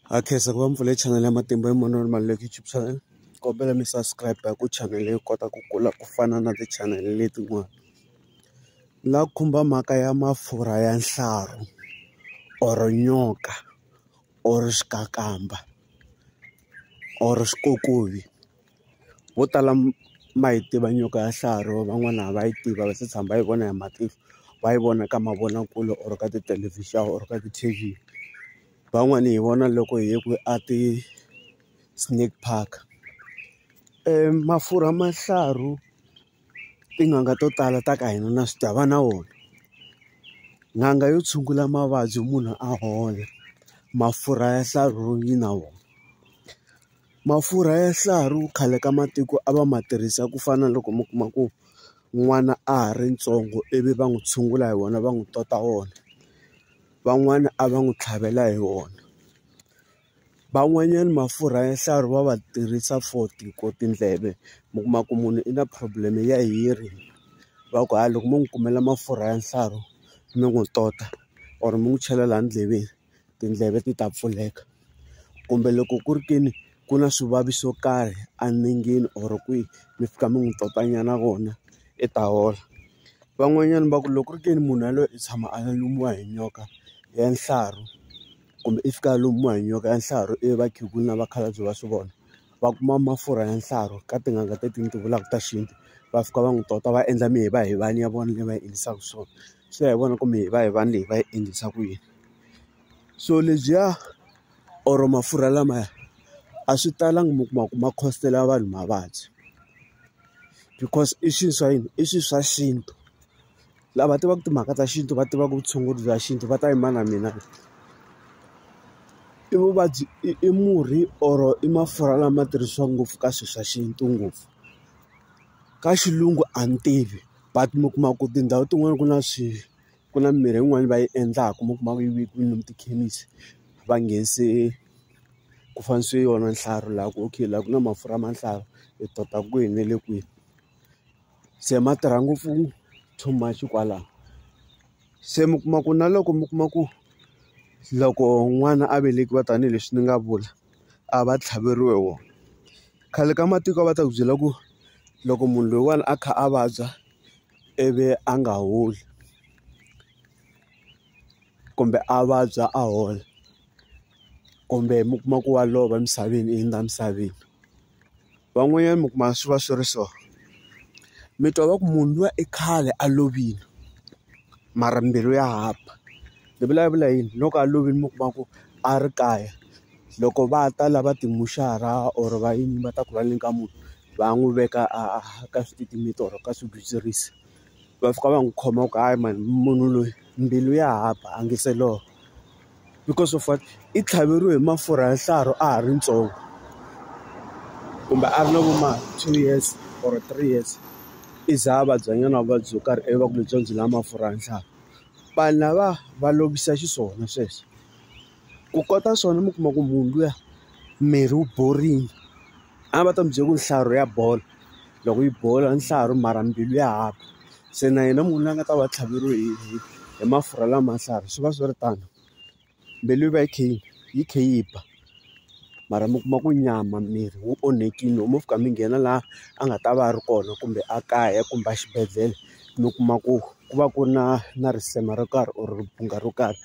ha khensa ku va mi pfule channel ya matimba hi mona mali leyi youtube channel kombela mi subscribe ku channel leyi kota ku kula ku fana na ti-channel letin'wana la khumba mhaka ya mafurha ya nhlaru or nyoka or xikakamba or xikokovi. vo tala ma yi tiva nyoka ya xiharhi or van'wana a va yi tivi a va se tshama va yi vona hi matihlo va yi vona ka mavonakule or ka tithelevhixini or ka ti-T_V van'wani hi vona loko hi ye kwihi a ti-snake park mafurha ma xihlahri tin'anga to tala ta ka hina na swi tiva va na wona n'anga yo tshungula mavabyi munhu a hola mafurha ya xihlahri yi na wona. Mafurha ya swiharhi khale ka matiko a va ma tirhisa ku fana na loko mi kuma ku n'wana a ha ri ntsongo ivi va n'wi tshungula hi wona va n'wi tota wona van'wani a va n'wi tlhavela hi wona van'wanyana mafurha ya nhlaro va va tirhisa for ti ku tindleve mi kuma ku munhu i na problem ya hiri va ku hayi loko mo n'wi kumela mafurha ya nhlaro mi n'wi tota or mi n'wi chela laha ndleveni. tindleve ti ta pfuleka kumbe loko ku ri ke ni ku na swivavi swo karhi enengeni or kwihi mi fika mi n'wi tota nyana kona i ta hola van'wanyana va ku loko ku ri ke ni munhu yaloye i tshama a lumiwa hi nyoka ya nhlaro kumbe i fika a lumiwa hi nyoka ya nhlaro ivi vakhegula na vakhalabye va swi vona va kuma mafurha ya nhlaro ka tin'anga teti ni ti vulaka ta xintu va fika va n'wi tota va endla mihivahivana ya vona leyi va yi endlisaka swona swi ya hi vona ku mihivahivana leyi va yi endlisa ku yini. so lebyiya or mafurha lamaya a swi talangi mi kuma ku ma costela vanhu mavabyi because i swilo swa yini i swilo swa xintu lava tivaka timhaka ta xintu va tivaka vutshunguri bya xintu va ta yima na mina i vuvabyi i i murhi or i mafurha lama tirhisiwaka ngopfu ka swilo swa xintu ngopfu ka xilungu a ni tivi but mi kuma ku tindhawu tin'wani ku na swi ku na mimirhi yin'wani va yi endlaka mi kuma ku yi vekiwile lomu tikhemisi va nghenise ku fanisa yona nhlaro laha ku okay laha ku na mafurha ma nhlaro hi tota kwihi na le kwihi se ma tirha ngopfu too much kwalano se mi kuma ku na loko mi kuma ku loko n'wana a velekiwa tanihileswi ni nga vula a va tlhaveriwi wona khale ka matiko a va ta ku byela ku loko munhu loyiwani a kha a vabya ivi a nga holi kumbe a vabya a hola kumbe mi kuma ku wa lova emisaveni i hundza emisaveni van'wanyana mi kuma swi va swi ri so mi twa va ku munhu luya i khale a lovile mara mbilu ya ha ba ni vulavula yini hi loko a lovile mi kuma ku a ri kaya loko va ta lava ti-mortuary or va yini va ta ku va nyika munhu. va n'wi veka a ka swititimeta or ka swigwitsirisi. Va fika va n'wi khoma va ku hayi mani munhu loyi mbilu ya ha ba a nga se lovola. Because of what? I tlhaveriwe hi mafurha ya nhlaro a ha ri ntsongo, kumbe a ri na vo ma two years or three years. I za a vabyanyana vuvabyi byo karhi ivi va ku byebyiya byi lava mafurha ya ntlhanu. Vanhu lava va lovisa xiswona sweswo. Ku kota swona mi kuma ku munhu luya miri wu borile. a va ta mi byela ku nhlayo ya bolo loko yi bola ntlhanu mara mbilu ya hava se na yena munhu loyi a nga ta va a tlhaveriwe hi hi hi mafurha lama matlhari swi va swi ri tano mbilu yi va yi kha yi yi kha yi ba mara mi kuma ku nyama miri wu onhakile loko mo fika mi nghena laha a nga ta va a ri kona kumbe a kaya kumbe a xibedhlele mi kuma ku ku va ku ri na na risema ro karhi or ribunga ro karhi.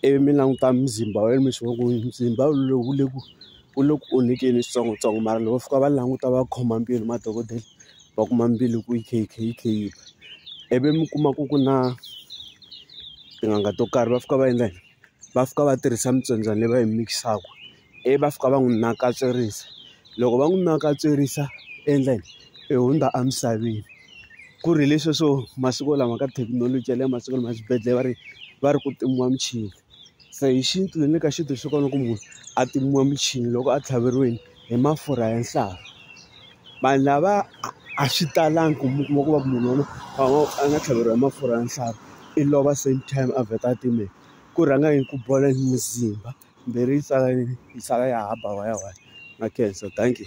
ivi mi languta muzimba wa yena mi swi vona ku muzimba lowu wu le ku wu le ku onhakeni hi switsongotsongo mara loko va fika va languta va khoma mbilu madokodela va kuma mbilu ku yi kha yi kha yi kha yi ba ivi mi kuma ku ku na tin'anga to karhi va fika va endla yini va fika va tirhisa mitsombyana leyi va yi mix-aka. ivi va fika va n'wi nakatswerisa loko va n'wi nakatswerisa endleni i hundza emisaveni ku ri leswi swo masiku lama ka thekinoloji ya le masiku lama swibedhlele va ri va ri ku timiwa michini se hi xintu ni le ka xintu swi kona ku munhu a timiwa michini loko a tlhaveriwile hi mafurha ya nhloko vanhu lava a swi talangi ku mi kuma ku va ku munhu waloye a ngo a nga tlhaveriwa hi mafurha ya nhloko i lova same time a vheta a timeka ku rhanga hi ku bola hi muzimba. Mbirhi yi sala yi sala ya hamba why why na khensa thank you.